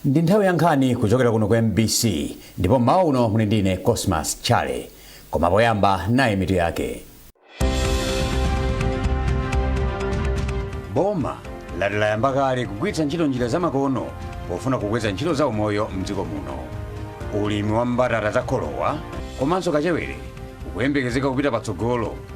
ndi nthawi ya nkhani kuchokera kuno ku mbc ndipo mmawa uno muli ndine cosmas chale koma poyamba nayi mitu yake boma lati layamba kale kugwiritsa ntchito njira zamakono pofuna kukweza ntchito za umoyo mdziko muno ulimi wa mbatata za kholowa komanso kachewere ukuyembekezeka kupita patsogolo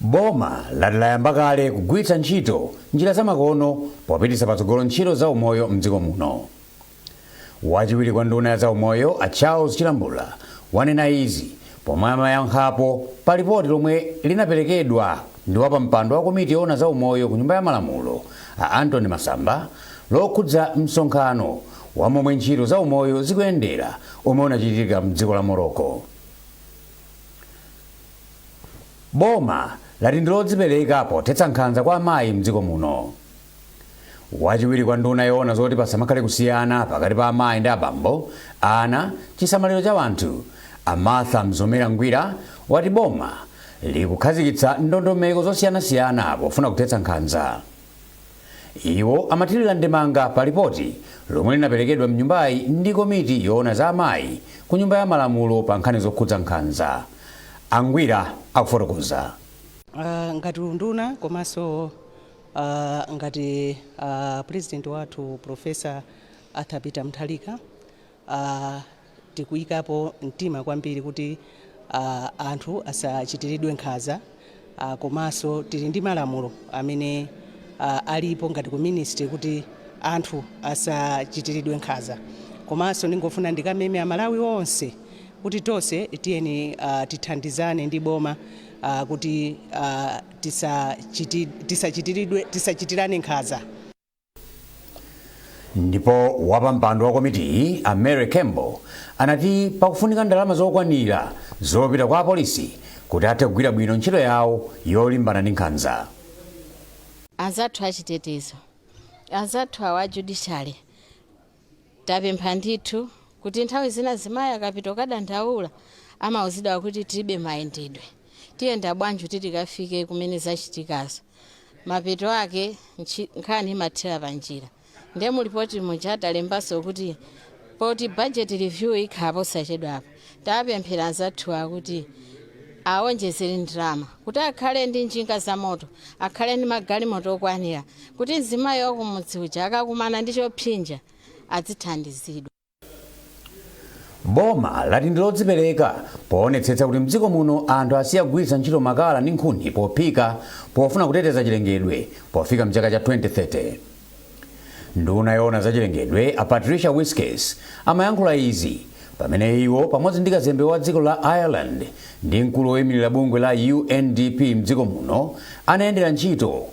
Boma lati layamba kale kugwiritsa ntchito njira zamakono popititsa patsogolo ntchito za umoyo m'dziko muno. Wachiwiri kwa nduna ya zaumoyo a Charles Chilambula wanena izi pomwe amayankhapo pa lipoti lomwe linaperekedwa ndi wapampando wa komiti yoona za umoyo ku Nyumba ya Malamulo a Anthony Masamba lokhudza msonkhano wa momwe ntchito za umoyo zikuyendera omwe unachitika m'dziko la Morocco. Boma lati ndilodzipereka pothetsa nkhanza kwa amayi mdziko muno. Wachiwiri kwa nduna yoona zoti pasamakhale kusiyana pakati pa amayi ndi abambo, ana, chisamaliro cha anthu, a Martha Mzomera Ngwira wati boma likukhazikitsa ndondomeko zosiyanasiyana pofuna kuthetsa nkhanza. Iwo amathirira ndemanga pa lipoti lomwe linaperekedwa m'nyumbayi ndi komiti yoona za amayi ku Nyumba ya Malamulo pa nkhani zokhudza nkhanza. A Ngwira akufotokoza. Ngati unduna komanso ngati a pulezidenti wathu Pulofesa Arthur Peter Mutharika, a Tikuyikapo mtima kwambiri kuti a anthu asachitiridwe nkhanza a komanso tili ndi malamulo amene a alipo ngati ku ministry kuti anthu asachitiridwe nkhanza. Komanso ndingofuna ndikameme a Malawi onse kuti tonse tiyeni a tithandizane ndi boma a kuti a tisachiti tisachitiridwe tisachitirane nkhanza. ndipo wapampando wa komitiyi a mary campbell anati pakufunika ndalama zokwanira zopita kwa apolisi kuti athe kugwira bwino ntchito yawo yolimbana ndi nkhanza anzathu achitetezo anzathu awa a judiciary Tapempha ndithu kuti nthawi zina mzimayi akapita kukadandaula amauzidwa kuti tilibe mayendedwe, tiyenda bwanji kuti tikafike kumene zachitikazo. Mapeto ake ntchi- nkhani imathera panjira. Ndiye mu lipoti muja talembanso kuti poti budget review ikhala posachedwapa, Tapemphera anzathuwa kuti awonjezere ndalama kuti akhale ndi njinga zamoto, akhale ndi magalimoto okwanira kuti mzimayi wa kumudzi uja akakumana ndi chopsinja adzithandizidwa. Boma lati ndi lodzipereka poonetsetsa kuti mdziko muno anthu asiya kugwiritsa ntchito makala ndi nkhuni pophika pofuna kuteteza chilengedwe pofika mchaka cha 2030. Nduna yoona zachilengedwe a Patricia Wiskies amayankhula izi pamene iwo pamodzi ndi kazembe wa dziko la Ireland ndi mkulu woimilira bungwe la UNDP mdziko muno anayendera ntchito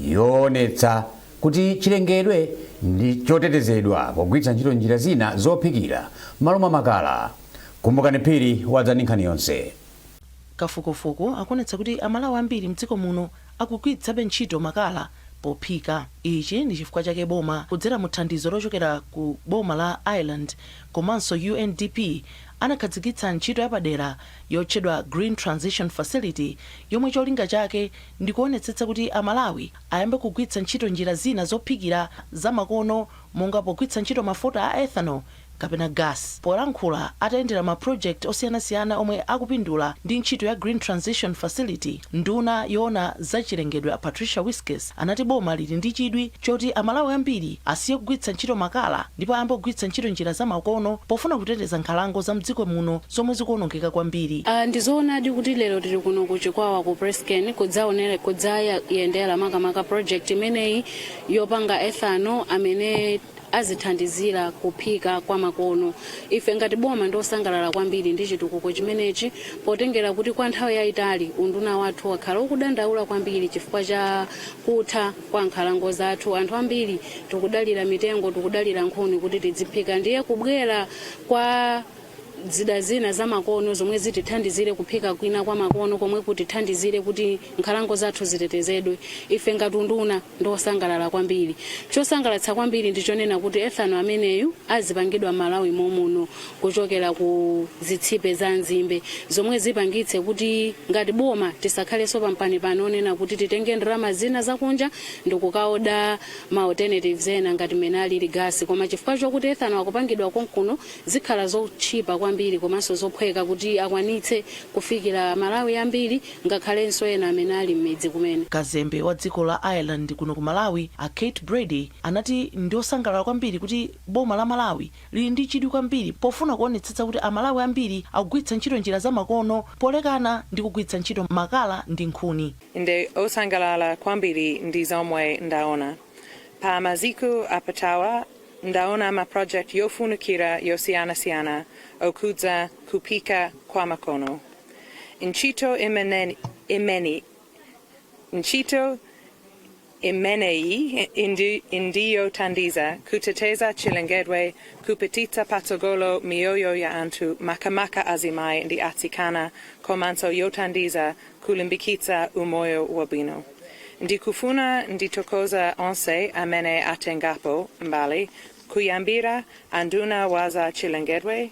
yoonetsa kuti chilengedwe ndi chotetezedwa pogwiritsa ntchito njira zina zophikira m'malo mwa makala. Kumbukani Phiri wadza ndi nkhani yonse. Kafukufuku akuonetsa kuti Amalawi ambiri mdziko muno akugwiritsabe ntchito makala pophika. Ichi ndi chifukwa chake boma kudzera mu thandizo lochokera ku boma la Ireland komanso UNDP anakhazikitsa ntchito yapadera yotchedwa Green Transition Facility yomwe cholinga chake ndi kuonetsetsa kuti Amalawi ayambe kugwiritsa ntchito njira zina zophikira zamakono monga pogwiritsa ntchito mafuta a ethanol kapena gas. Polankhula atayendera ma project osiyanasiyana omwe akupindula ndi ntchito ya Green Transition Facility, nduna yoona za chilengedwe a Patricia Wiskies anati boma lili ndi chidwi choti a Malawi ambiri asiye kugwiritsa ntchito makala ndipo ayambe kugwiritsa ntchito njira za makono pofuna kuteteza nkhalango za mdziko muno zomwe zikuonongeka kwambiri. Ndi zoonadi kuti lero tili kuno ku Chikwawa ku PressCane kudzayendera makamaka project imeneyi yopanga ethanol amene azithandizira kuphika kwa makono. Ife ngati boma ndi osangalala kwambiri ndi chitukuko chimenechi potengera kuti kwa nthawi yaitali unduna wathu wakhala ukudandaula kwambiri chifukwa cha kutha kwa nkhalango zathu. Anthu ambiri tikudalira mitengo, tikudalira nkhuni kuti tidziphika ndiye kubwera kwa zida zina zamakono zomwe zitithandizire kuphika kwina kwa makono komwe kutithandizire kuti nkhalango zathu zitetezedwe ife ngati unduna ndiosangalala kwambiri chosangalatsa kwambiri ndichonena kuti ethanol ameneyu azipangidwa Malawi momuno kuchokera ku zitsipe za nzimbe zomwe zipangitse kuti ngati boma tisakhalenso pampanipani wonena kuti titenge ndalama zina zakunja ndikukaoda ma alternatives ena ngati mmene alili gas koma chifukwa chokuti ethanol akupangidwa konkuno zikhala zotchipa kwambiri komanso zophweka kuti akwanitse kufikira amalawi ambiri ngakhalenso ena amene ali mmidzi kumene. Kazembe wa dziko la Ireland kuno ku Malawi, a Kate Brady, anati ndi osangalala kwambiri kuti boma la Malawi lili ndi chidwi kwambiri pofuna kuonetsetsa kuti amalawi ambiri akugwiritsa ntchito njira za makono polekana ndi kugwiritsa ntchito makala ndi nkhuni. Ndine osangalala kwambiri ndi zomwe ndaona. Pa masiku apitawa ndaona ma project yofunikira yosiyanasiyana okhudza kuphika kwa makono. Ntchito imeneyi ndiyothandiza kuteteza chilengedwe kupititsa patsogolo miyoyo ya anthu makamaka azimayi ndi atsikana komanso yothandiza kulimbikitsa umoyo wabwino. Ndikufuna ndithokoze onse amene atengapo mbali kuyambira a nduna wa za chilengedwe,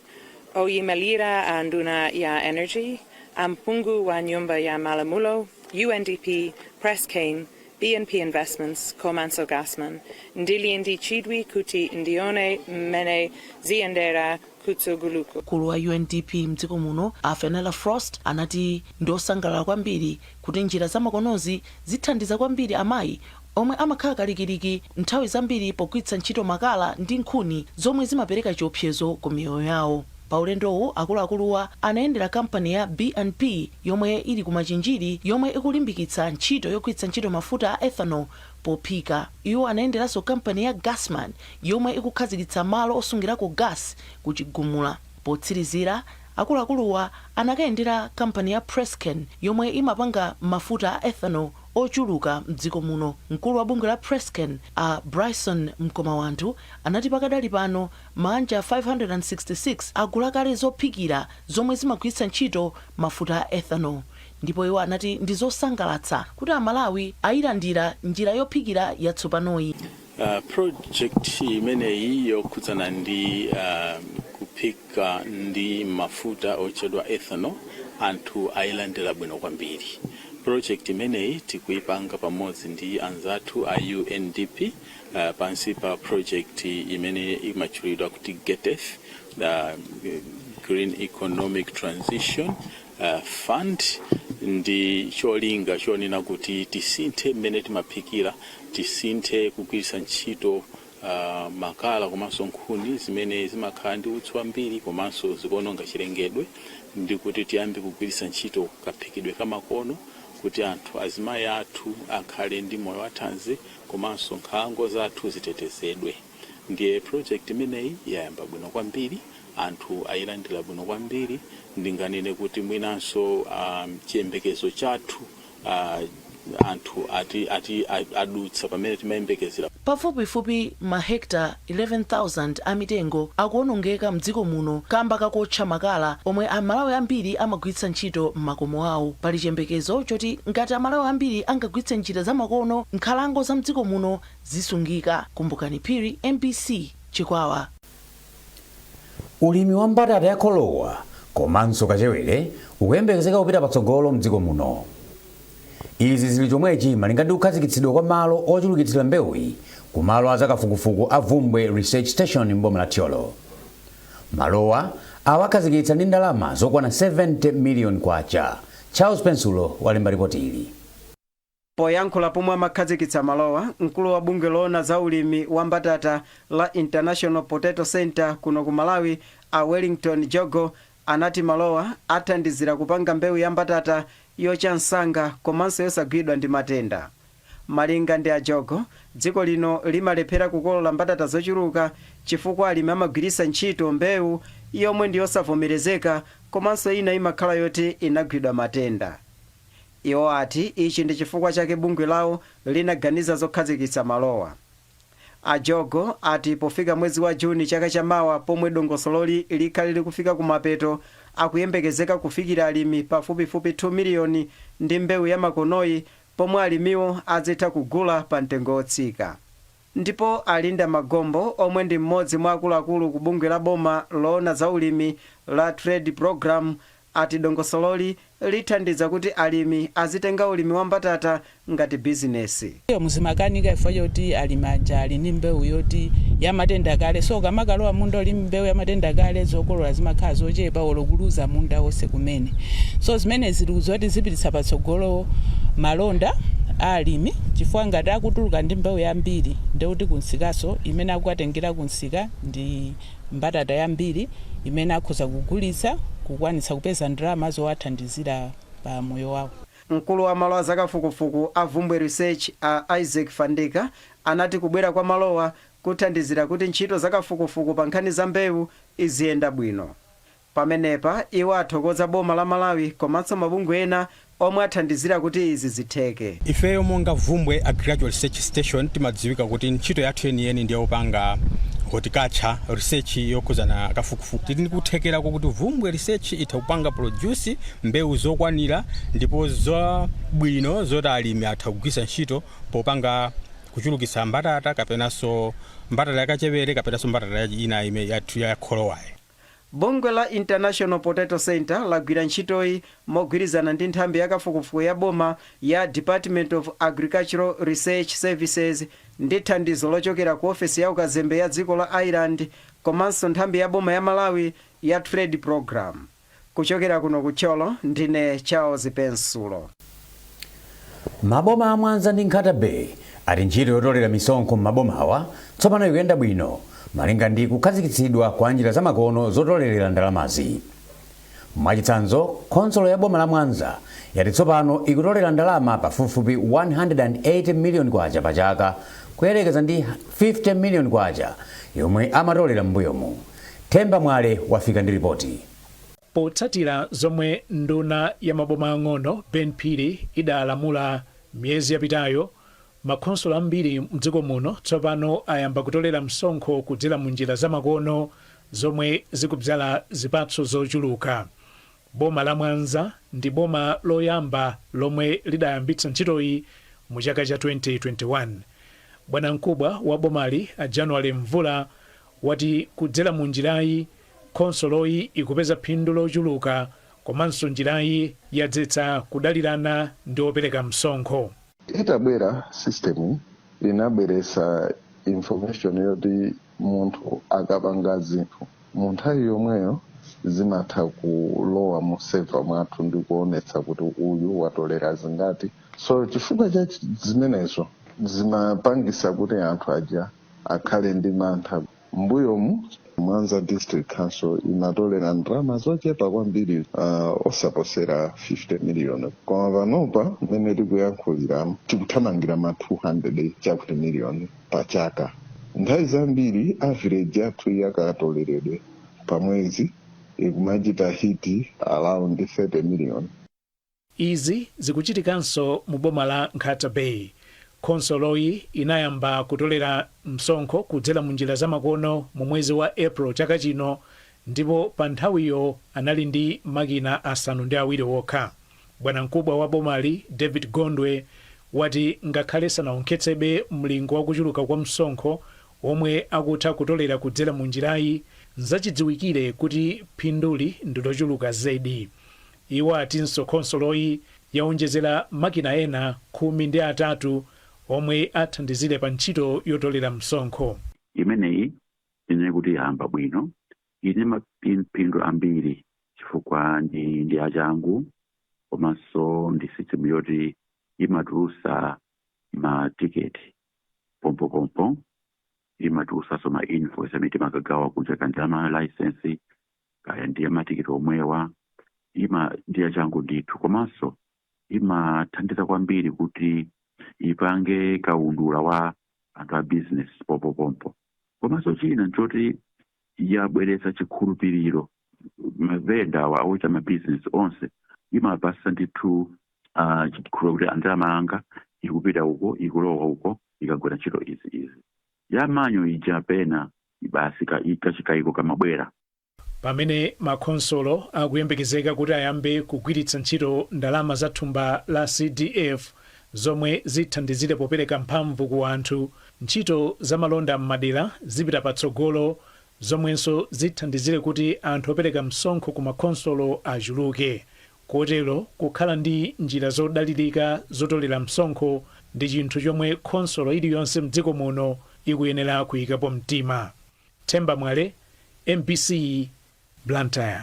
oyimalira a nduna ya energy, a mphungu wa nyumba ya malamulo, UNDP, PressCane, BNP Investments komanso Gasman. Ndili ndi chidwi kuti ndione mmene ziyendera kutsogoloku. Mkulu wa UNDP mdziko muno a Fenella Frost anati ndiosangalala kwambiri kuti njira zamakonozi zithandiza kwambiri amayi omwe amakhala kalikiliki nthawi zambiri pogwiritsa ntchito makala ndi nkhuni zomwe zimapereka chiopsezo ku miyoyo yawo. Pa ulendowu akuluakuluwa anayendera kampani ya BNP yomwe ili ku Machinjiri yomwe ikulimbikitsa ntchito yogwiritsa ntchito mafuta a ethanol Pophika, iwo anayenderanso kampani ya Gasman, yomwe ikukhazikitsa malo osungirako gasi ku Chigumula. Potsirizira, akuluakuluwa anakayendera kampani ya PressCane, yomwe imapanga mafuta a ethanol ochuluka m'dziko muno. Mkulu wa bungwe la PressCane, a Bryson Mkhomaanthu, anati pakadali pano maanja 566 agula kale zophikira zomwe zimagwiritsa ntchito mafuta a ethanol. Ndipo iwo anati ndi zosangalatsa kuti Amalawi ayilandira njira yophikira yatsopanoyi. Project imeneyi yokhudzana ndi kuphika ndi mafuta otchedwa ethanol anthu ayilandira bwino kwambiri. Project imeneyi tikuyipanga pamodzi ndi anzathu a UNDP pansi pa project imene imatchulidwa kuti GETF, Green Economic Transition, uh, fund ndi cholinga chonena kuti tisinthe mmene timaphikira tisinthe kugwiritsa ntchito uh, makala komanso nkhuni zimene zimakhala ndi utsi wambiri komanso zikuononga chilengedwe ndi kuti tiyambe kugwiritsa ntchito kaphikidwe kamakono kuti anthu azimayi athu akhale ndi moyo wathanzi komanso nkhalango zathu zitetezedwe Ndiye project imeneyi yayamba bwino kwambiri, anthu ayilandira bwino kwambiri. Ndinganene kuti mwinanso um, chiyembekezo chathu uh, anthu ati, ati a- adutsa pamene timayembekezera. Pafupifupi mahekita 11,000 a mitengo akuwonongeka m'dziko muno kamba kakuotcha makala omwe Amalawi ambiri amagwiritsa ntchito m'makomo awo. Pali chiyembekezo choti ngati Amalawi ambiri angagwiritse njira zamakono, nkhalango za m'dziko muno zisungika. Kumbukani Phiri, mbc, Chikwawa. Ulimi wa mbatata ya kholowa komanso kachewere ukuyembekezeka kupita patsogolo m'dziko muno. Izi zili chomwechi malinga ndi kukhazikitsidwa kwa malo ochulukitsira mbewuyi ku malo a zakafukufuku a Bvumbwe Research Station m'boma la Thyolo. Malowa awakhazikitsa ndi ndalama zokwana K70 miliyoni. Charles Pensulo walemba lipoti ili. Poyankhula pomwe amakhazikitsa malowa, mkulu wa bungwe loona za ulimi wa mbatata la International Potato Centre kuno ku Malawi, a Wellington Jogo, anati malowa athandizira kupanga mbewu ya mbatata yocha msanga komanso yosagwidwa ndi matenda. Malinga ndi a Jogo, dziko lino limalephera kukolola mbatata zochuluka chifukwa alimi amagwiritsa ntchito mbewu yomwe ndi yosavomerezeka komanso ina imakhala yoti inagwidwa matenda. Iwo ati ichi ndi chifukwa chake bungwe lawo linaganiza zokhazikitsa malowa. A Jogo ati pofika mwezi wa June chaka cha mawa pomwe dongosololi likhale likufika kumapeto, akuyembekezeka kufikira alimi pafupifupi 2 miliyoni ndi mbewu yamakonoyi pomwe alimiwo azitha kugula pa mtengo wotsika. Ndipo a Linda Magombo omwe ndi m'modzi mwa akuluakulu ku bungwe la boma loona za ulimi la Trade Programme ati dongosololi lithandiza kuti alimi azitenga ulimi wa mbatata ngati bizinesi. Mmbuyomu zimakanika chifukwa choti alimi aja ali ndi mbewu yoti yamatenda kale so ukamakalowa munda uli ndi mbewu yamatenda kale zokolola zimakhala zochepa olo kuluza munda wonse kumene so zimenezi tikudziwa kuti zipititsa patsogolo malonda a alimi. chifukwa ngati akutuluka ndi mbewu yambiri ndiye kuti kumsikanso imene akukatengera kumsika ndi mbatata yambiri imene akhoza kugulitsa kukwanitsa kupeza ndalama zowathandizira pa moyo wawo. Mkulu wa malo a zakafukufuku a Bvumbwe Research a Isaac Fandika anati kubwera kwa malowa kuthandizira kuti ntchito zakafukufuku pa nkhani za mbewu iziyenda bwino. Pamenepa iwo athokoza boma la Malawi komanso mabungwe ena omwe athandizira kuti izi zitheke. Ifeyo monga Bvumbwe Agricultural Research Station timadziwika kuti ntchito yathu yeniyeni ndi yopanga Horticulture research yokhudzana kafukufuku. Tili ndi kuthekera kokuti Bvumbwe Research itha kupanga produce mbewu zokwanira ndipo zabwino zoti alimi atha kugwiritsa ntchito popanga kuchulukitsa mbatata kapenanso mbatata ya kachewere kapenanso mbatata ina yathu ya kholowayi. Bungwe la International Potato Centre lagwira ntchitoyi mogwirizana ndi nthambi yakafukufuku ya boma ya Department of Agricultural Research Services ndi thandizo lochokera ku ofesi ya ukazembe ya dziko la Ireland komanso nthambi ya boma ya Malawi ya Trade Programme, Kuchokera kuno ku Thyolo ndine Charles Pensulo. Maboma a Mwanza ndi Nkhata Bay ati ntchito yotolera misonkho m'mabomawa tsopano ikuyenda bwino malinga ndi kukhazikitsidwa kwa njira zamakono zotolerera ndalamazi. Mwachitsanzo, khonsolo ya boma la Mwanza yati tsopano ikutolera ndalama pafupifupi K180 miliyoni pachaka kuyerekeza ndi K50 miliyoni yomwe amatolera m'mbuyomu. Themba Mwale wafika ndi lipoti. Potsatira zomwe nduna ya maboma ang'ono Ben Phiri idalamula miyezi yapitayo, makhonsolo ambiri mdziko muno tsopano ayamba kutolera msonkho kudzera mu njira za makono zomwe zikudzala zipatso zochuluka. Boma la Mwanza ndi boma loyamba lomwe lidayambitsa ntchitoyi mu chaka cha 2021. Bwanamkubwa wa bomali a January Mvula wati kudzera mu njirayi, Khonsoloyi ikupeza phindu lochuluka komanso njirayi yadzetsa kudalirana ndi opereka msonkho. Itabwera, system inabweretsa information yoti munthu akapanga zinthu, mu nthawi yomweyo zimatha kulowa mu server mwathu ndi kuonetsa kuti uyu watolera zingati. So chifukwa cha zimenezo zimapangisa kuti anthu aja akhale ndi mantha. mbuyomu mwanza district council imatolera ndalama zochepa kwambiri uh, osaposera 50 miliyoni koma panopa mmene tikuyankhulira tikuthamangira ma 200 chakuti miliyoni pa chaka nthawi zambiri average yathu yakatoleredwe pa mwezi ikumachita hiti around 30 miliyoni Izi zikuchitikanso mu boma la Nkhata Bay. Khonsoloyi inayamba kutolera msonkho kudzera mu njira zamakono mu mwezi wa April chaka chino ndipo pa nthawiyo anali ndi makina asanu ndi awiri okha. Bwanamkubwa wa bomali, David Gondwe, wati ngakhale sanawonkhetsebe mlingo wa kuchuluka kwa msonkho womwe akutha kutolera kudzera mu njirayi, nzachidziwikire kuti phinduli ndi lochuluka zedi. Iwo atinso khonsoloyi yaonjezera makina ena khumi ndi atatu omwe athandizire pa ntchito yotolera msonkho. Imeneyi tinene kuti yayamba bwino, ili ndi mapindu ambiri chifukwa ndi ndi yachangu komanso ndi sisitimu yoti imatulusa ma tiketi pompopompo, imatulusanso ma invoisi amene timakagawa kunja kanja ma layisensi kaya ndiye matikiti omwewa ndi yachangu ndithu komanso imathandiza kwambiri kuti ipange kaundula wa anthu a business pompopompo komanso china nchoti yabweretsa chikhulupiriro mavenda awa ochita mabizinesi onse imapasa ndithu uh, chikhulupiriro kuti a ndalama yanga ikupita uko ikulowa uko ikagwira ntchito izi izi ya manual ija pena basi ka, kachikaiko kamabwera. Pamene makhonsolo akuyembekezeka kuti ayambe kugwiritsa ntchito ndalama za thumba la CDF zomwe zithandizire popereka mphamvu ku anthu, ntchito za malonda m'madera zipita patsogolo zomwenso zithandizire kuti anthu opereka msonkho ku makhonsolo achuluke, Kotero kukhala ndi njira zodalirika zotolera msonkho ndi chinthu chomwe khonsolo iliyonse mdziko muno ikuyenera kuyikapo mtima. Themba Mwale, mbc, Blantyre.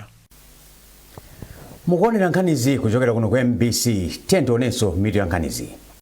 Mukuonera nkhanizi kuchokera kuno ku mbc, tiyeni tionenso mitu ya nkhanizi.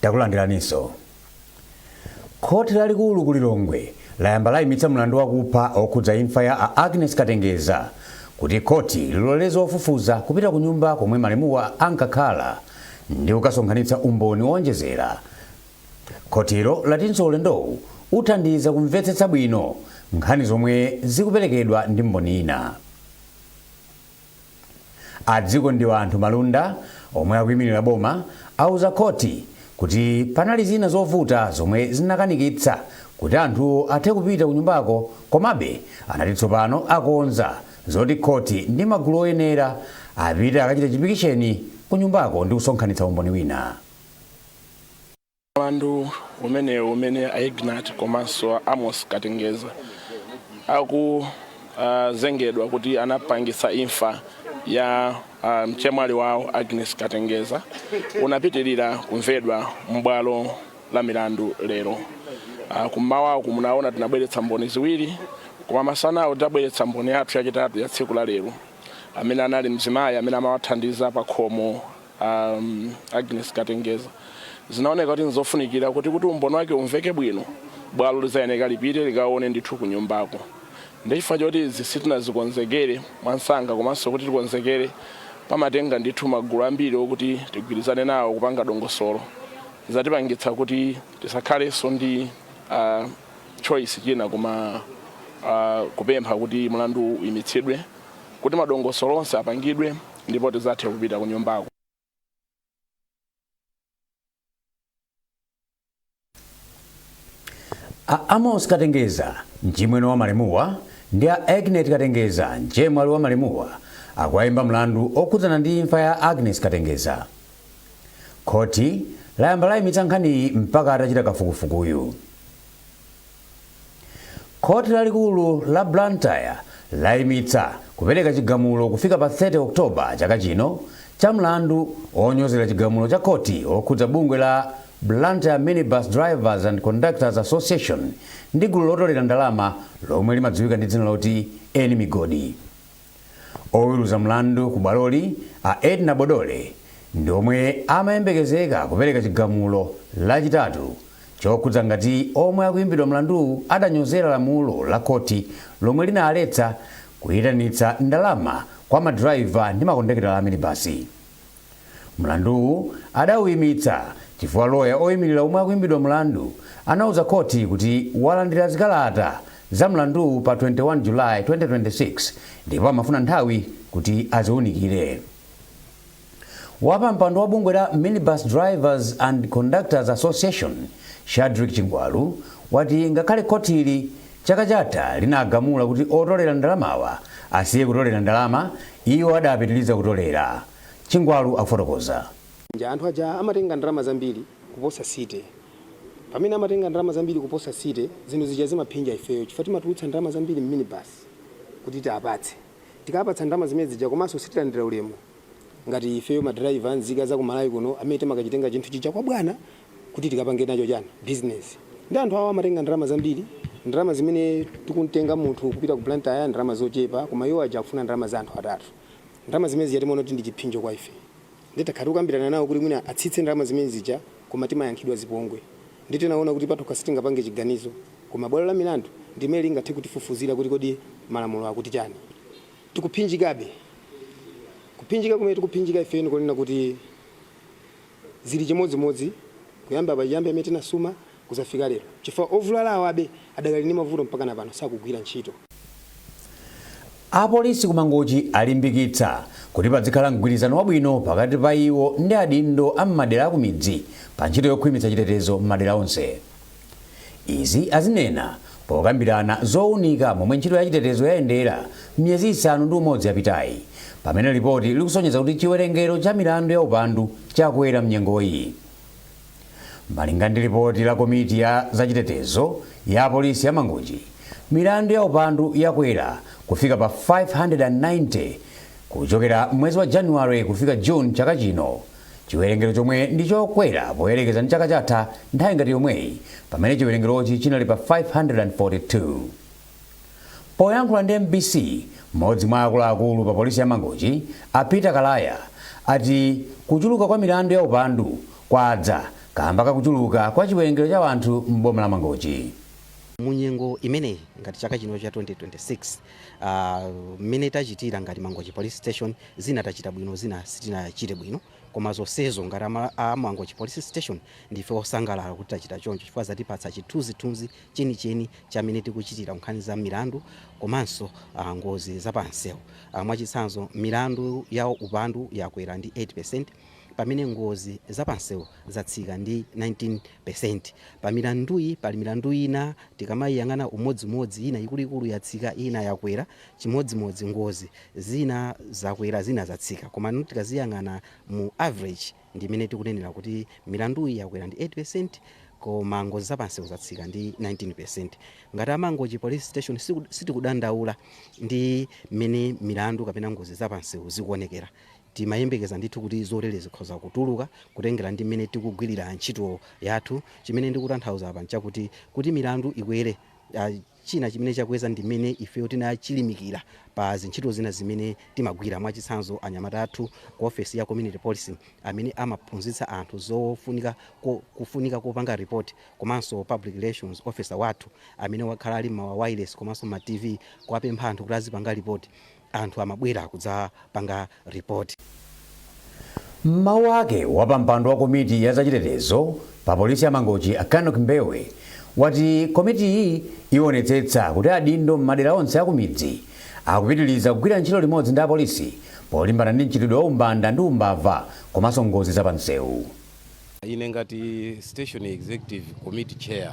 takulandiraninso khoti lalikulu ku lilongwe layamba layimitsa mlandu wakupha wokhudza imfa ya a agnes katengeza kuti khoti liloleze ofufuza kupita ku nyumba komwe malemuwa ankakhala ndi kukasonkhanitsa umboni woonjezera Khotilo latinso ulendowu uthandiza kumvetsetsa bwino nkhani zomwe zikuperekedwa ndi mboni yina. A Dzikondianthu Malunda omwe akuimirira boma auza khothi kuti panali zina zovuta zomwe zinakanikitsa kuti anthuwo athe kupita kunyumbako komabe anati tsopano akonza zoti khothi ndi magulu oyenera apite akachite chipikisheni kunyumbako ndi kusonkhanitsa umboni wina. Mlandu umenewu umene a Ignat komanso a Amos Katengeza akuzengedwa kuti anapangitsa imfa ya ah, mchemwali wawo Agnes Katengeza unapitirira kumvedwa m'bwalo la milandu lero. Ah, Kummawaku munaona tinabweretsa mboni ziwiri koma masanawo tinabweretsa mboni yathu yachitatu ya tsiku la lero amene anali mzimayi amene amawathandiza pa khomo a um, Agnes Katengeza zinaoneka kuti nzofunikira kuti kuti umboni wake umveke bwino bwalo lizayeneka lipite likaone ndithu kunyumbako ndechifukwa choti izi sitinazikonzekere mwansanga komanso kuti tikonzekere pamatenga ndithu magulu ambiri okuti tigwirizane nawo kupanga dongosolo zatipangitsa kuti tisakhalenso ndi uh, choice china koma uh, kupempha kuti mlandu uyimitsidwe kuti madongosolo onse apangidwe ndipo tizathe kupita kunyumbako. a amosi katengeza mchimwene wa malemuwa ndi a agnet katengeza mchemwali wa malemuwa akuwayimba mlandu okhudzana ndi imfa ya agnes katengeza khoti layamba layimitsa nkhaniyi mpaka atachita kafukufukuyu Khoti lalikulu la Blantyre laimitsa kupereka chigamulo kufika pa 30 October chaka chino cha mlandu onyozera chigamulo cha khoti okhudza bungwe la Blantyre Minibus Drivers and Conductors Association ndi gulu lotolera ndalama lomwe limadziwika ndi dzina loti Eni Migodi. Oweruza mlandu ku bwaloli, a Edna Bodole, ndi omwe amayembekezeka kupereka chigamulo Lachitatu chokhudza ngati omwe akuimbidwa mlanduwu adanyozera lamulo la khoti lomwe linaletsa kuitanitsa ndalama kwa madiraiva ndi makondakitala a minibasi. Mlanduwu adauimitsa chifukwa loya oimirira omwe akuimbidwa mlandu anauza khoti kuti walandira zikalata za mlanduwu pa 21 July 2026 ndipo amafuna nthawi kuti aziunikire. Wapampando wa bungwe la Minibus Drivers and Conductors Association, Shadrick Chingwalu, wati ngakhale khotili Chaka chatha linagamula kuti otolera ndalamawa asiye kutolera ndalama, iwo adapitiliza kutolera, Chingwalu akufotokoza. Anthu aja amatenga ndalama zambiri kuposa City. Pamene amatenga ndalama zambiri kuposa City, zinthu zija zimaphinja ifeyo chifukwa timatulutsa ndalama zambiri m'minibus kuti tiapatse. Tikaapatsa ndalama zimene zija komanso sitilandira ulemu. ngati ifeyo ma driver nzika za ku Malawi kuno amene timakachitenga chinthu chija kwa bwana kuti tikapange nacho chani business nde anthu awa amatenga ndalama zambiri ndalama zimene tikuntenga munthu kupita ku Blantyre ndalama zochepa koma iwo aja akufuna ndalama za anthu atatu ndalama zimene zija timaona kuti ndi chiphinjo kwa ife nde takhala tikukambirana nawo kuti mwina atsitse ndalama zimene zija koma timayankhidwa zipongwe nde tinaona kuti patokha sitingapange chiganizo koma bwalo la milandu ndimene lingathe kutifufuzira kuti kodi malamulo akuti chani. Tikuphinjikabe. Kuphinjika kumene tikuphinjika ife n'konena kuti zili chimodzimodzi kuyamba pachiyambi pamene tinasuma kuzafika lero chifukwa ovulalawo abe adakali ndi mavuto mpakana pano sakugwira ntchito. Apolisi ku Mangochi alimbikitsa kuti padzikhala mgwirizano wabwino pakati pa iwo ndi adindo a m'madera akumidzi pa ntchito yokhwimitsa chitetezo m'madera onse. Izi azinena pokambirana zounika momwe ntchito ya chitetezo yayendera m'miyezi isanu ndi umodzi yapitayi, pamene lipoti likusonyeza kuti chiwerengero cha milandu ya upandu chakwera m'nyengoyi. Malinga ndi lipoti la komiti ya za chitetezo ya apolisi ya Mangochi, milandu ya upandu yakwera kufika pa 590 kuchokera mwezi wa Januwale kufika June chaka chino, chiwerengero chomwe ndi chokwera poyerekeza ndi chaka chatha nthawi ngati yomweyi pamene chiwerengerochi chinali pa 542. Poyankhula ndi mbc, mmodzi mwa akuluakulu pa polisi ya Mangochi, a Peter Kalaya, ati kuchuluka kwa milandu ya upandu kwadza kamba ka kuchuluka kwa chiwerengero cha anthu m'boma la Mangochi. Mu nyengo imeneyi ngati chaka chino cha 2026, Aaa mmene tachitira ngati Mangochi police station zina tachita bwino zina sitinachite bwino koma zonsezo ngati a Mangochi police station ndife osangalala kuti tachita choncho chifukwa zatipatsa chithunzithunzi chenicheni cha mmene tikuchitira kunkhani za milandu komanso aa ngozi za pa nsewu aa mwachitsanzo milandu ya upandu yakwera ndi 8%. pamene ngozi za pansewu zatsika ndi 19%. Pa milanduyi pali milandu ina tikamaiyang'ana umodzimodzi ina ikuluikulu yatsika ina yakwera, chimodzimodzi ngozi zina zakwera zina zatsika koma tikaziyang'ana mu average ndi imene tikunenera kuti milanduyi yakwera ndi 8% koma ngozi za pansewu zatsika ndi 19%. Ngati a Mangochi Police Station sitikudandaula ndi mmene milandu kapena ngozi za pansewu zikuonekera. Timayembekeza ndithu kuti zotere zikhoza kutuluka kutengera ndi mmene tikugwilira ntchito yathu. Chimene ndikutanthauza apa nchakuti, kuti milandu ikwere, china chimene chakweza ndi mmene ifeyo tinachilimikira pa zintchito zina zimene timagwira. Mwachitsanzo, anyamata athu ku ofesi ya community policing amene amaphunzitsa anthu za kufunika kopanga report komanso public relations officer wathu amene wakhala ali mma wireless komanso mma TV kuwapempha anthu kuti azipanga report, anthu amabwera kudzapanga report. M'mawu ake, wapampando wa komiti ya zachitetezo pa polisi ya Mangochi a Kanock Mbewe wati komitiyi iwonetsetsa kuti adindo m'madera onse akumidzi akupitiliza kugwira ntchito limodzi ndi apolisi polimbana ndi mchitidwe wa umbanda ndi umbava komanso ngozi za pansewu. Ine ngati Station Executive Committee Chair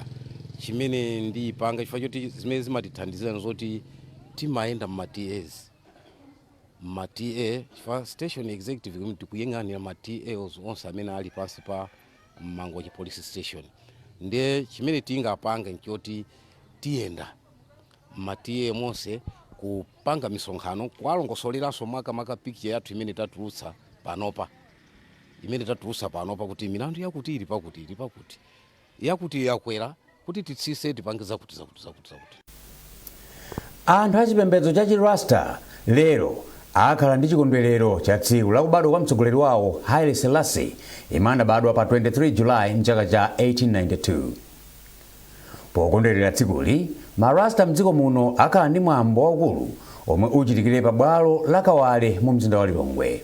chimene ndipanga chifukwa choti zimene zimatithandizira nzoti timayenda mma tas mma ta chifukwa station executive committee tikuyang'anira ma tas onse amene ali pansi pa mangochi police station ndiye chimene tingapange nchoti tiyenda mma ta monse kupanga misonkhano kuwalongosoleranso makamaka picture yathu imene tatulutsa panopa imene tatulutsa panopa kuti milandu yakuti ili pakuti ili pakuti yakutiyo yakwera kuti titsitse tipange zakuti zakuti zakuti zakuti. Anthu a chipembedzo cha chi Rasta lero akhala ndi chikondwerero cha tsiku la kubadwa kwa mtsogoleri wawo Haile Selassie yemwe anabadwa pa 23 July mchaka cha 1892. Pokondwerera tsikuli, ma Rasta mdziko muno akhala ndi mwambo waukulu omwe uchitikire pa bwalo la Kawale mu mzinda wa Lilongwe.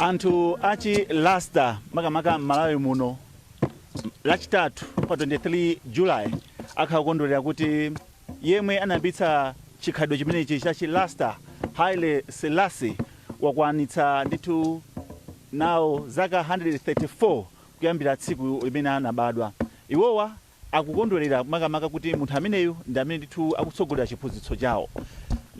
anthu achi Rasta makamaka m'malawi muno lachitatu pa 23 july akhala kukondwerera kuti yemwe anayambitsa chikhalidwe chimenechi cha chi Rasta Haile Selassie wakwanitsa ndithu nawo zaka 134 kuyambira tsiku limene anabadwa. Iwowa akukondwerera makamaka kuti munthu ameneyu ndi amene ndithu akutsogolera chiphunzitso chawo.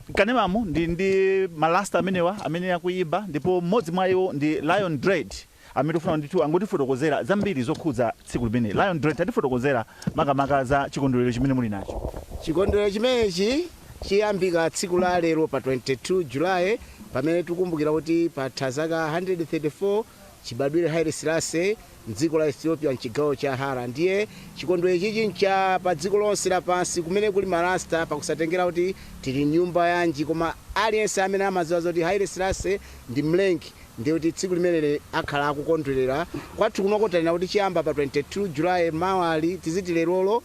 Mkanemamu ndi ndi ma Rasta amenewa amene akuyimba ndipo mmodzi mwa iwo ndi Lion Dread amene tikufuna ndithu angotifotokozera zambiri zokhudza tsiku limeneli. Lion Dread, tatifotokozerani makamaka za chikondwerero chimene muli nacho. Chikondwerero chimenechi chiyambika tsiku la lero pa 22 July pamene tikukumbukira kuti patha zaka 134 Chibadwire Haile Selassie m'dziko la Ethiopia m'chigawo cha Harar ndiye chikondwerero chichi ncha pa dziko lonse la pansi kumene kuli ma Rasta pakusatengera kuti tili nyumba yanji koma aliyense amene amadziwa zoti Haile Selassie ndi Mlengi ndiye kuti tsiku limeneli akhala akukondwelera kwathu kunoko tanena kuti chiyamba pa 22 July mawali tiziti lerolo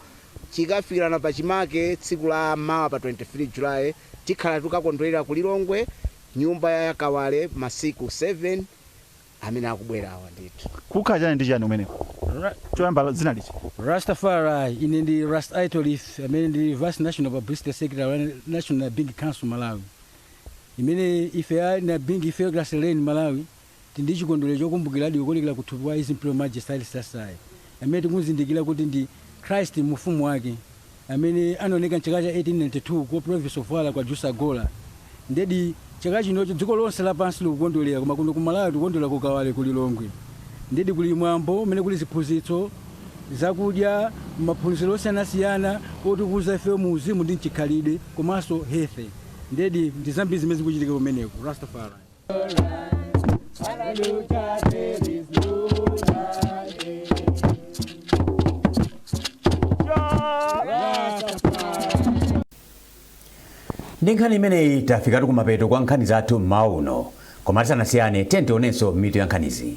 chikafikilana pa chimake tsiku la mawa pa 23 July tikhala tikukakondwelera ku Lilongwe nyumba ya Kawale masiku 7 amene akubwera awa ndithu. Kukhala chani ndi chani kumeneko? Choyamba dzina liti? Rastafari, ine ndi Ras Aitolith amene ndi Vice National Publicity Secretary wa National Nyabinghi Council Malawi. Imene ife a Nyabinghi ife Grace Lane Malawi tili ndi chikondwerero chokumbukira adi kuonekera kuthupi kwa His Imperial Majesty Haile Selassie amene tikumuzindikira kuti ndi Christ mu ufumu wake. amene anaoneka m'chaka cha 1892 ku Province of Harar kwa Ejersa Goro. Indeed, chaka chinochi dziko lonse lapansi likukondwerera, koma kuno ku Malawi tikukondwerera ku Kawale ku Lilongwe. Indeed kuli mwambo umene kuli ziphunzitso, zakudya, maphunziro osiyanasiyana otukuza ifeyo mu uzimu ndi m'chikhalidwe komanso health. Indeed ndi zambiri zimene zikuchitika kumeneko. Rastafari. ndi nkhani imeneyi tafikatu kumapeto kwa nkhani zathu mmawa uno koma tisanasiyane tiyeni tionenso mitu ya nkhanizi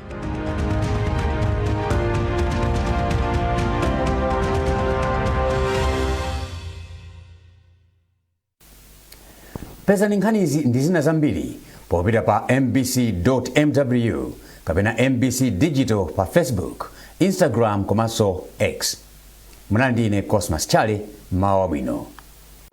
pezani nkhanizi ndi zina zambiri popita pa mbc.mw kapena mbc digital pa facebook instagram komanso x munali ndi ine cosmas chale mawa wabwino